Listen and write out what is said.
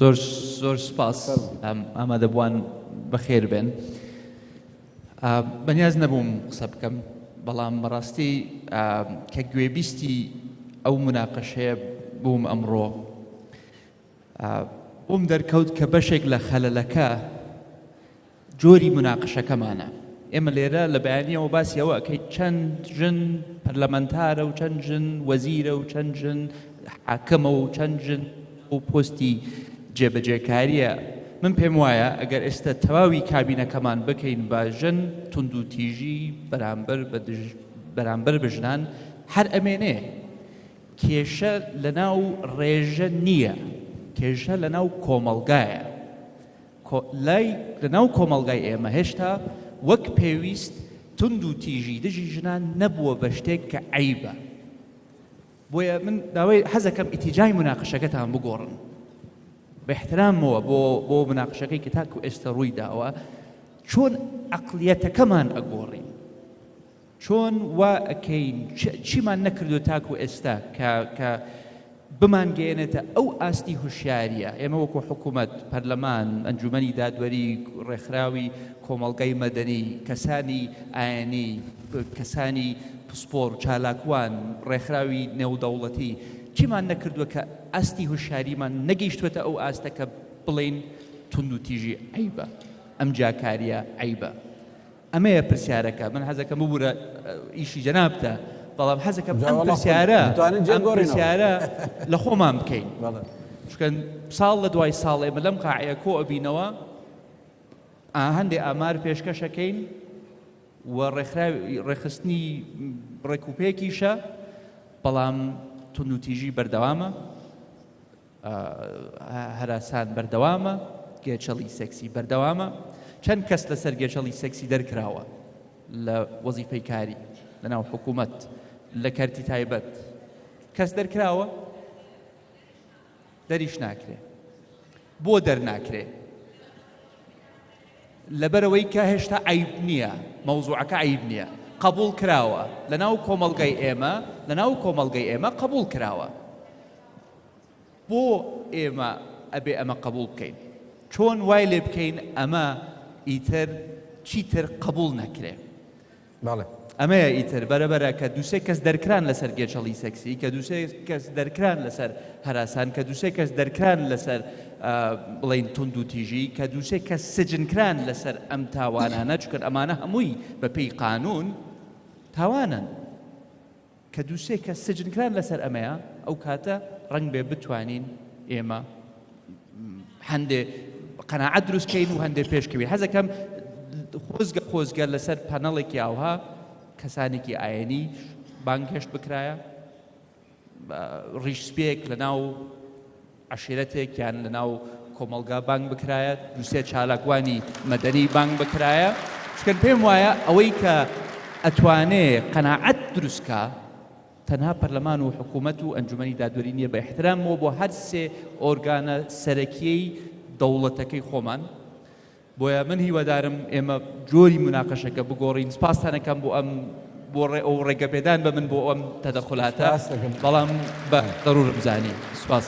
زۆر زۆر سپاس ئامادەبووان بەخێر بێن بەنیاز نەبووم قسە بکەم بەڵام بەڕاستی کە گوێبیستی ئەو مناقەشەیە بووم ئەمڕۆ بووم دەرکەوت کە بەشێک لە خەلەلەکە جۆری موناقشەکەمانە. ئێمە لێرە لە بەیانییەوە باسی ئەوە ئەکەین چەند ژن پەرلەمەنتارە و چەند ژن وەزیرە و چەند ژن حاکمە و چەند ژن و پۆستی جێبەجێکاریە من پێم وایە ئەگەر ئێستا تەواوی کابینەکەمان بکەین بە ژن توندوتیژی بەرامبەر بە دژ بەرامبەر بە ژنان هەر ئەمێنێ کێشە لەناو ڕێژە نییە کێشە لەناو کۆمەڵگایە لای لە ناو کۆمەڵگای ئێمە هێشتا وەک پێویست توند و تیژی دژی ژنان نەبووە بە شتێک کە عەیبە بۆیە من داوای حەزەکەم ئیتیجای مناقشەکەتان بگۆڕن بە احترامەوە بۆ بۆ مناقشەکەی کە تاکو ئێستا ڕووی داوە چۆن عقلیەتەکەمان ئەگۆڕین چۆن وا ئەکەین چیمان نەکردوە تاکو ئێستا کە کە بمان گەیەنێتە ئەو ئاستی هوشیاریە ئێمە وەکو حکومەت پەرلەمان ئەنجومەنی دادوەری ڕێکخراوی کۆمەڵگای مەدەنی کەسانی ئاینی کەسانی پسپۆر چالاکوان ڕێکخراوی نێودەوڵەتی چیمان نەکردوە کە ئاستی هوشیاریمان نەگەیشتوێتە ئەو ئاستە کە بڵین توندوتیژی عیبە ئەم جاکاریە عیبە ئەمەیە پرسیارەکە من حەزەکەم ببورە ئیشی جەنابتە بەڵام حەزەکەم ئەم پرسیارە ئەم پرسیارە لە خۆمان بکەین چکەن ساڵ لە دوای ساڵ ئێمە لەم قاعەیە کۆ ئەبینەوە هەندێک ئامار پێشکەشەکەین و ڕێخستنی ڕێکوپێکیشە بەڵام تونوتیژی بەردەوامە هەراسان بەردەوامە، گێچەڵی سێکسی بەردەوامە، چەند کەس لەسەر گێچەڵی سێکسی دەرکراوە لە وەزیفەی کاری لەناو حکوومەت لە کەرتی تایبەت کەس دەرکراوە دەریش ناکرێ بۆ دەرناکرێ لەبەرەوەی کە هێشتا عیب نییە مەوزوعەکە عیب نییە قبول کراوە لە ناو کۆمەلگای ئێمە لە ناو کۆمەلگای ئێمە قبول کراوە بۆ ئێمە ئەبێ ئەمە قەبوڵ بکەین؟ چۆن وای لێ بکەین ئەمە ئیتر چیتر قەبوڵ نەکرێ؟ بەڵێ. ئەمەیە ئیتر بەرەبەرە کە دووسێ کەس دەرکران لەسەر گێچەڵی سەکسی کە دووسێ کەس دەرکران لەسەر هەراسان کە دووسێ کەس دەرکران لەسەر بڵین تونند و تیژی کە دووسێ کە سجنکران لەسەر ئەم تاوانانە چکرد ئەمانە هەمووی بە پێی قانون تاوانن کە دوو سێ کەس سجنکران لەسەر ئەمەیە ئەو کاتە ڕەنگ بێ بتوانین ئێمە هەندێ قەنەعەت دروستکەین و هەندێ پێشکەوی حەزەکەم خۆزگە خۆزگە لەسەر پەنەڵێکی ئاوها کەسانێکی ئاەنی بانگهێشت بکرایە ڕیشسپێک لە ناو عەشیرەتێک یان لە ناو کۆمەڵگا بانگ بکرایە، دوو سێ چالاکوانی مەدەنی بانگ بکرایە، چکن پێم وایە ئەوەی کە ئەتوانێ قەناعەت دروست کا تەنها پەرلەمان و حکوومەت و ئەنجومەنی دادوەری نییە بە ئیحتراممەوە بۆ هەر سێ ئۆرگانە سەرەکییەی دەوڵەتەکەی خۆمان، بۆیە من هیوادارم ئێمە جۆری موناقەشەکە بگۆڕین سپاستان ئەکەم بۆ ئەم بۆ ڕێ ئەو ڕێگەپێدان بە من بۆ ئەم تەدەخولاتە بەڵام بە دەرورم زانی سپاس.